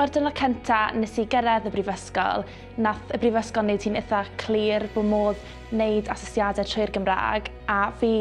O'r dynod cynta nes i gyrraedd y brifysgol, nath y brifysgol wneud hi'n eitha clir bod modd wneud asesiadau trwy'r Gymraeg a fi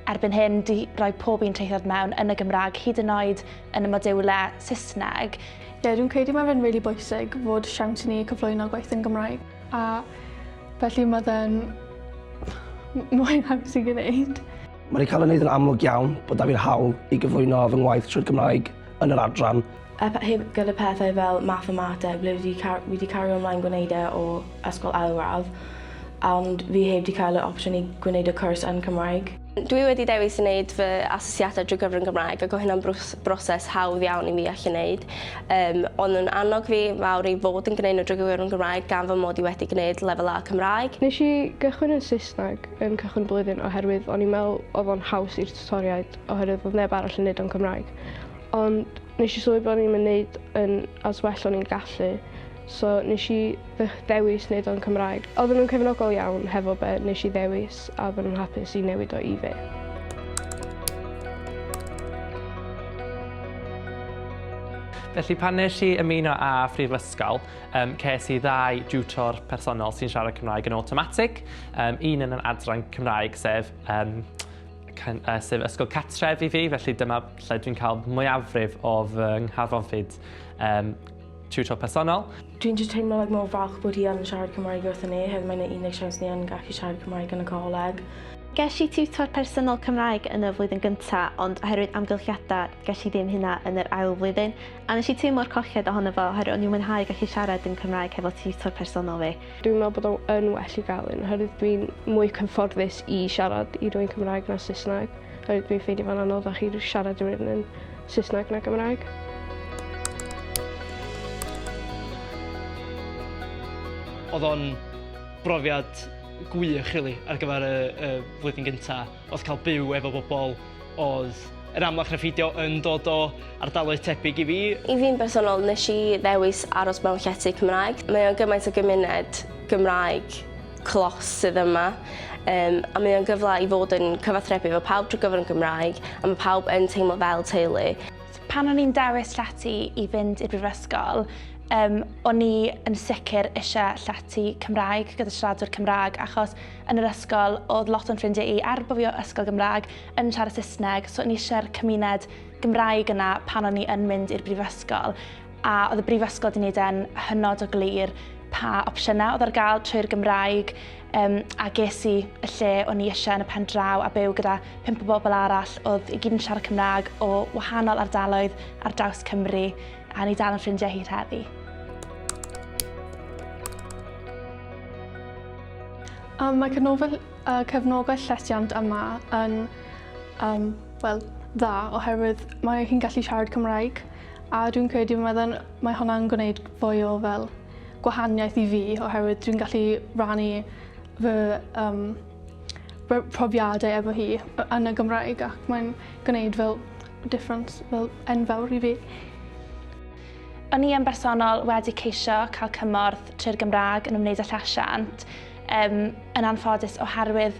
erbyn hyn di roi pob un traethawd mewn yn y Gymraeg hyd yn oed yn y modiwlau Saesneg. Ie, dwi'n credu mae fe'n rili really bwysig fod siawns i ni cyflwyno gwaith yn Gymraeg. A felly mae fe'n mwy haws i gwneud. Mae rhaid cael ei wneud yn amlwg iawn bod 'da fi'r hawl i gyflwyno fy ngwaith trwy'r Gymraeg yn yr adran. A heb gyda pethau fel mathemateg ble fi wedi cario ymlaen gwneud e o ysgol ail radd ond fi heb 'di cael yr opsiwn i gwneud y cwrs yn Cymraeg. Dwi wedi dewis i wneud fy asesiadau drwy gyfrwng Gymraeg ac o hynna'n broses hawdd iawn i fi allu wneud. Um, ond yn annog fi fawr i fod yn gwneud nhw drwy gyfrwng Gymraeg gan fy mod i wedi gwneud lefel A Cymraeg. Nes i gychwyn yn Saesneg yn cychwyn y blwyddyn oherwydd o'n i'n meddwl oedd o'n haws i'r tutoriaid oherwydd oedd neb arall yn neud o'n Cymraeg. Ond nes i sylwi bod o'n i'n mynd yn as well o'n i'n gallu So nes i ddewis neud o'n Cymraeg. Oedden nhw'n cefnogol iawn hefo be nes i ddewis a oedden nhw'n hapus i newid o i fi. Felly pan nes i ymuno â Phrifysgol, um, ces i ddau diwtor personol sy'n siarad Cymraeg yn automatic. Um, un yn yr adran Cymraeg, sef um, uh, sef ysgol catref i fi, felly dyma lle dwi'n cael mwyafrif o fy ngharfonfyd um, Tiwtor personol. Dwi'n just teimlo like mor falch bod hi yn siarad Cymraeg wrthyn ni, hefyd mae'n ei unig siawns ni yn gallu siarad Cymraeg yn y coleg. Ges i tiwtor personol Cymraeg yn y flwyddyn gynta, ond oherwydd amgylchiadau, ges i ddim hynna yn yr ail flwyddyn, a nes i teimlo'r colled ohono fo oherwydd o'n i'n mwynhau gallu siarad dim Cymraeg hefo tiwtor personol fi. Dwi'n meddwl bod o yn well i gael un, oherwydd dwi'n mwy cyfforddus i siarad i rwy'n Cymraeg na Saesneg, oherwydd dwi'n ffeindio fo'n anoddach i siarad i rywun yn Saesneg na Gymraeg. Oedd o'n brofiad gwych rili ar gyfer y, y flwyddyn gyntaf. Oedd cael byw efo bobl oedd yn amlach na ffeidio yn dod o ardaloedd tebyg i fi. I fi'n bersonol, nes i ddewis aros mewn llety Cymraeg. Mae o'n gymaint o gymuned Gymraeg clos sydd yma um, a mae o'n gyfle i fod yn cyfathrebu efo pawb drwy gyfer yn Gymraeg a mae pawb yn teimlo fel teulu. Pan o'n i'n dewis llety i fynd i'r brifysgol, um, o'n i yn sicr eisiau llety Cymraeg gyda siaradwr Cymraeg achos yn yr ysgol oedd lot o'n ffrindiau i er bod fi o ysgol Gymraeg yn siarad Saesneg so o'n i eisiau'r cymuned Gymraeg yna pan o'n i yn mynd i'r brifysgol a oedd y brifysgol wedi gwneud e'n hynod o glir pa opsiynau oedd ar gael trwy'r Gymraeg um, a ges i y lle o'n i eisiau yn y pen draw a byw gyda pimp o bobl arall oedd i gyd yn siarad Cymraeg o wahanol ardaloedd ar draws Cymru a ni dal yn ffrindiau hir heddi. Um, mae cyfnofol, uh, cyfnogau llesiant yma yn um, well, dda oherwydd mae hi'n gallu siarad Cymraeg A dwi'n credu mae fe'n mae hwnna'n gwneud fwy o fel gwahaniaeth i fi oherwydd dwi'n gallu rannu fy um, fy profiadau efo hi yn y Gymraeg ac mae'n gwneud fel difference fel enfawr i fi. O'n i yn bersonol wedi ceisio cael cymorth trwy'r Gymraeg yn ymwneud â llesiant um, yn anffodus oherwydd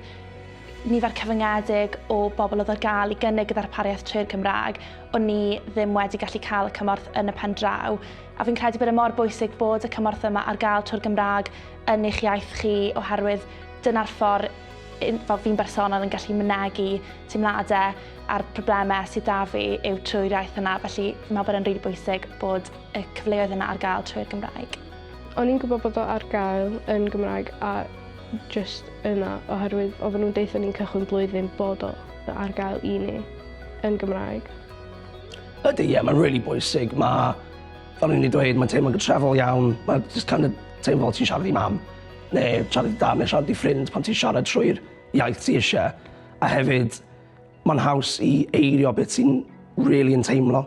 nifer cyfyngedig o bobl oedd ar gael i gynnig y ddarpariaeth trwy'r Cymraeg, o'n ni ddim wedi gallu cael y cymorth yn y pen draw. A fi'n credu bod e mor bwysig bod y cymorth yma ar gael trwy'r Gymraeg yn eich iaith chi oherwydd dyna'r ffordd fel fi'n bersonol yn gallu mynegu teimladau a'r problemau sydd da fi yw trwy'r iaith yna, felly fi'n meddwl bod e'n rili bwysig bod y cyfleoedd yna ar gael trwy'r Gymraeg. O'n i'n gwybod bod o ar gael yn Gymraeg a jyst yna oherwydd oedden nhw'n deutha ni'n cychwyn blwyddyn bod o ar gael i ni yn Gymraeg. Ydy, ie, yeah, mae'n really bwysig. Mae, fel ni'n ei dweud, mae'n teimlo'n gytrefol iawn. Mae'n just kind of teimlo fel ti'n siarad i mam, neu siarad i dam, neu siarad i ffrind pan ti'n siarad trwy'r iaith ti eisiau. A hefyd, mae'n haws i eirio beth ti'n really yn teimlo.